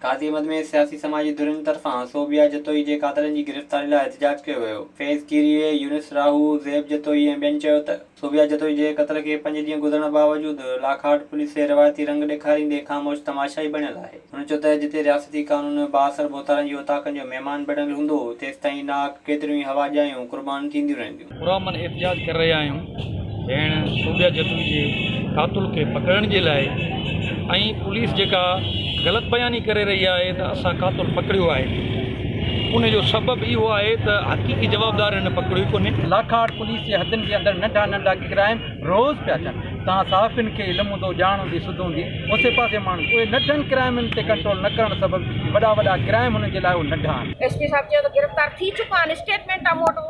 قاضي احمد ۾ سياسي سماجي ڌرين طرفان صوبيا جتوئي جي قاتلن جي گرفتاري لاء احتجاج ڪيو ويو. فيض ڪيريء، يونس راهو، زيب جتوئي ۽ ٻين چيو ته صوبيا جتوئي جي قتل کي پنج ڏينهن گذرڻ باوجود لاکاٽ پوليس کي روايتي رنگ ڏيکاريندي خاموش تماشائي بڻيل آهي. هن چيو ته جتي رياستي قانون بااثر ڀوتارن جي اوطاقن جو مهمان بڻيل هوندو تيستائين ناحق ڪيتريون ئي هوا ڄايون قربان ٿينديون رهنديون. پرامن احتجاج ڪري رهيا آهيون ڀيڻ صوبيا جتوئي جي قاتل کي پڪڙڻ جي لاء ۽ پوليس جيڪا غلط بياني ڪري رهي آهي ته اسان قاتل پڪڙيو آهي ان جو سبب اهو آهي ته حقيقي جوابدار هن پڪڙيو ڪونهي. لاکاڙ پوليس جي حدن جي اندر ننڍا ننڍا ڪرائم روز پيا ٿين توهان صحافين کي علم هوندو ڄاڻ هوندي سڌ هوندي اوسي پاسي ماڻهن اهي ننڍن ڪرائمن تي ڪنٽرول نه ڪرڻ سبب وڏا وڏا ڪرائم هنن جي لاء اهي ننڍا آهن. ايس پي صاحب چيو ته گرفتار ٿي چڪا آهن اسٽيٽمينٽ موٽ.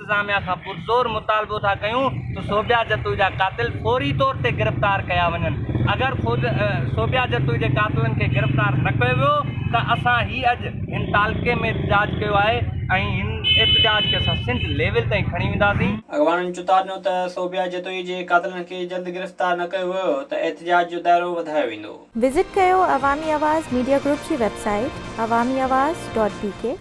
انتظاميا کان پرزور مطالبو ٿا ڪيون ته صوبيا جتوئي جا قاتل فوري طور تي گرفتار ڪيا وڃن، اگر صوبيا جتوئي جي قاتلن کي گرفتار نه ڪيو ويو ته اسان هي اڄ هن تعلقي ۾ احتجاج ڪيو آهي ۽ هن احتجاج کي اسان سنڌ ليول تائين کڻي وينداسين. اڳواڻن چتاء ڏنو ته صوبيا جتوئي جي قاتلن کي جلد گرفتار نه ڪيو ويو ته احتجاج جو دائرو وڌايو ويندو. وزٽ ڪيو عوامي آواز ميڊيا گروپ جي website Awami Awaz dot بي ڪي.